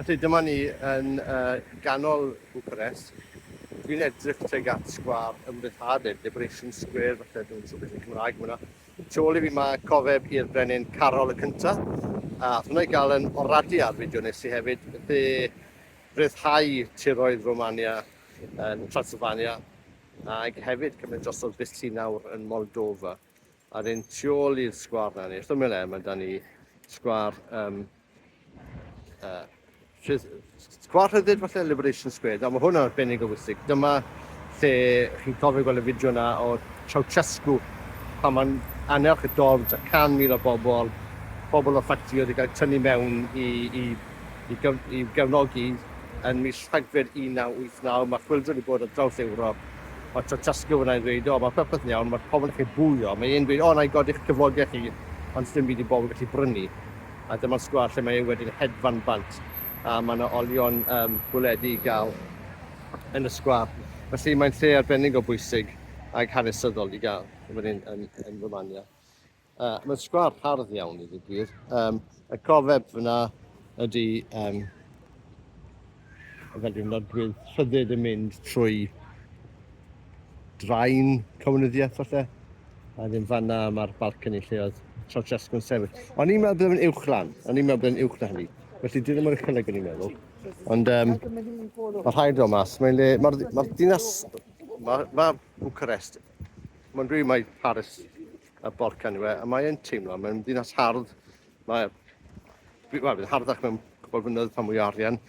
Felly dyma ni yn ganol Bwcarest. Dwi'n edrych tuag at sgwâr ymryddhad neu Liberation Square falle dwi'n siŵr beth yn Cymraeg yma. Tu ôl i fi mae cofeb i'r brenin Carol y cynta. A hwnna i gael yn oradu ar fideo nes i hefyd dde ryddhau tiroedd Romania yn Transylvania ac hefyd cymryd drosodd Bythlinawr yn Moldova. A'r un tu ôl i'r sgwâr 'na, neu wrth ymyl e, ma' 'da ni sgwâr yym yy rhydd- sgwâr rhyddid falle, Liberation Square. Nawr ma' hwn yn arbennig o bwysig. Dyma lle chi'n cofio gweld y fideo 'na o Ceausescu pan ma'n annerch y dorf 'da can mil o bobl, pobl o ffactrïoedd wedi cael eu tynnu mewn i i i gyf- i'w gefnogi yn mis Rhagfyr 1989. Ma' chwyldro wedi bod ar draws Ewrop. Mae tasgio fynnai'n dweud, o, mae popeth yn iawn, mae pobl yn gallu bwlio. Mae e'n dweud, o, na i godi'ch cyflogau chi, ond sdim byd i bobl gallu brynu. A dyma'r sgwâr lle mae e wedyn hedfan bant, a mae yna olion um, bwledi i gael yn y sgwâr. Felly mae'n lle arbennig o bwysig ac hanesyddol i gael yn fan hyn yn, yn Romania. Uh, Mae'n sgwar hardd iawn i ddigwydd. Um, y cofeb fyna ydy um, fel dwi'n nodwydd rhyddid yn mynd trwy draen comunyddiaeth falle. A ddim fanna mae'r balcony lle oedd Trotchesg yn sefyll. O'n i'n meddwl bod yn uwch lan, o'n i'n meddwl bod yn uwch na hynny. Felly dyn ddim yn uchelegu ni'n meddwl. Ond um, mae rhaid o mas. Mae'n le, mae'r ma dinas, mae ma Bucharest, mae'n rhaid mae Paris y Balcan yw e, a mae e'n teimlo, mae'n ddinas hardd, mae, wel, bydd harddach mewn cwbl fynyddoedd pan mwy o arian.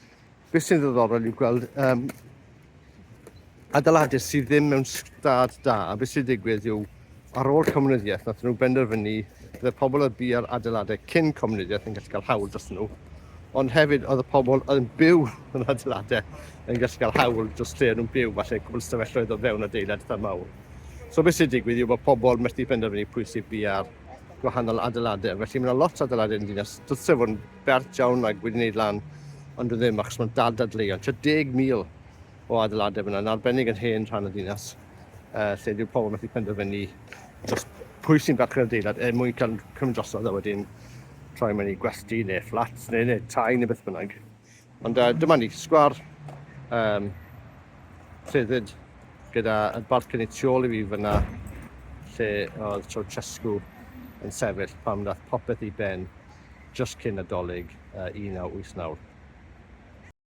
Beth sy'n ddiddorol yw gweld um, adeiladau sydd ddim mewn stad da, a beth sy'n digwydd yw, ar ôl comunyddiaeth, nath nhw benderfynu, bydd pobl oedd bu ar adeiladau cyn comunyddiaeth yn gallu cael hawl dros nhw, ond hefyd oedd y pobl oedd yn byw yn adeiladau yn gallu cael hawl dros lle nhw'n byw, falle cwbl stafelloedd o fewn adeilad eitha mawr. So beth sy'n digwydd yw bod pobl methu penderfynu pwy sydd bia'r gwahanol adeiladau. Felly mae yna lot o adeiladau yn dinas. Dylse fod yn bert iawn ac wedi wneud lan, ond dwi ddim achos mae'n dal dadleuon. Tua 10,000 o adeiladau fyna, yn arbennig yn hen rhan y dinas, uh, lle dyw pobl methu penderfynu dros pwy sy'n barchu'r adeilad er mwyn cael cymryd drosodd a wedyn troi mewn i gwesty neu fflat neu, neu tai neu beth bynnag. Ond uh, dyma ni, sgwar um, rhyddid gyda y balcony tu ôl i fi fyna lle oedd Ceausescu yn sefyll pam nath popeth i ben just cyn Nadolig uh, 1989.